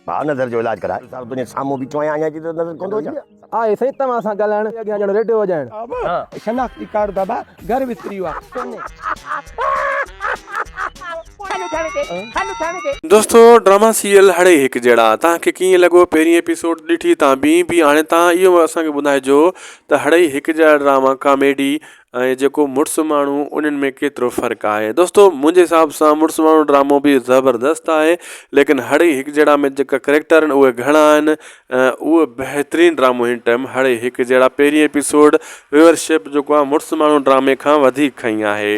ڀاء نظر جو علاج ڪراء. صاحب تنهنجي سامهون بيٺو آهيان اڃان تائين نظر ڪونه ٿو اچي. آهي سائين توهان سان ڳالهائڻ اڳيان ڄڻ ريڊيو وڄائڻ. شناختي ڪارڊ بابا گهر وسري ويا. دوستو ڊراما سيريل هڙئي هڪ جهڙا توهان کي ڪيئن لڳو پهرين ايپيسوڊ ڏٺي تان بي بي هاڻي توهان اهو اسان کي ٻڌائجو ته هڙئي هڪ جهڙا ڊراما ڪاميڊي ۽ جيڪو مڙس ماڻهو انهن ۾ ڪيترو فرق آهي دوستو منهنجي حساب سان مڙس ماڻهو ڊرامو به زبردست آهي ليڪن هڙئي هڪ جهڙا ۾ جيڪا ڪريڪٽر آهن اهي گهڻا آهن اهو بهترين ڊرامو هن ٽائم هڙئي هڪ جهڙا پهرين ايپيسوڊ ويورشپ جيڪو آهي مڙس ماڻهو ڊرامي کان وڌيڪ کئي آهي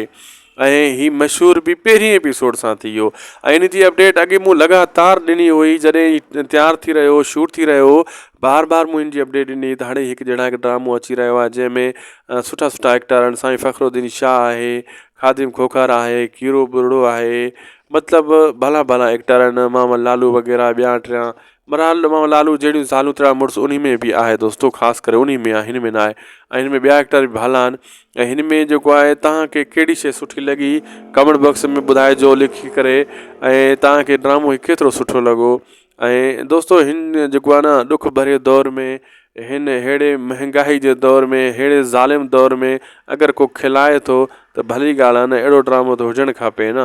۽ هي مشهور به پهرين ايپيسوڊ سان ٿي ويو ۽ ان جي اپڊيٽ اڳي مون لڳاتار ڏني هئي جڏهن هي تيار ٿي رهيو هو شوٽ ٿي رهيو هو بار بار مون ان جي اپڊيٽ ڏني هئي ته هاڻي هڪ جهڙا هڪ ڊرامو اچي رهيو آهي جنهن ۾ سٺا سٺا ايڪٽر آهن سائين فخر الدين شاهه آهي خادم کوکار آهي کيرو ٻرڙو آهي مطلب ڀلا ڀلا ايڪٽر آهن محمد لالو وغيره ٻيا ٽيا برحال امام لالو جهڙيون زالون تهڙا مڙس انهي ۾ به آهي دوستو خاص ڪري انهي ۾ آهي هن ۾ ناهي ۽ هن ۾ ٻيا ايڪٽر به ڀلا آهن ۽ هن ۾ جيڪو آهي تهان کي ڪهڙي شي سٺي لڳي ڪمينٽ باڪس ۾ ٻڌائجو لکي ڪري ۽ تهان کي ڊرامو هي ڪيترو سٺو لڳو ۽ دوستو هن جيڪو آهي نه ڏک ڀري دور ۾ هن ههڙي مهنگاهي جي دور ۾ ههڙي ظالم دور ۾ اگر ڪو کلائي ٿو ته ڀلي ڳالهه آهي نه اهڙو ڊرامو ته هجڻ کپي نه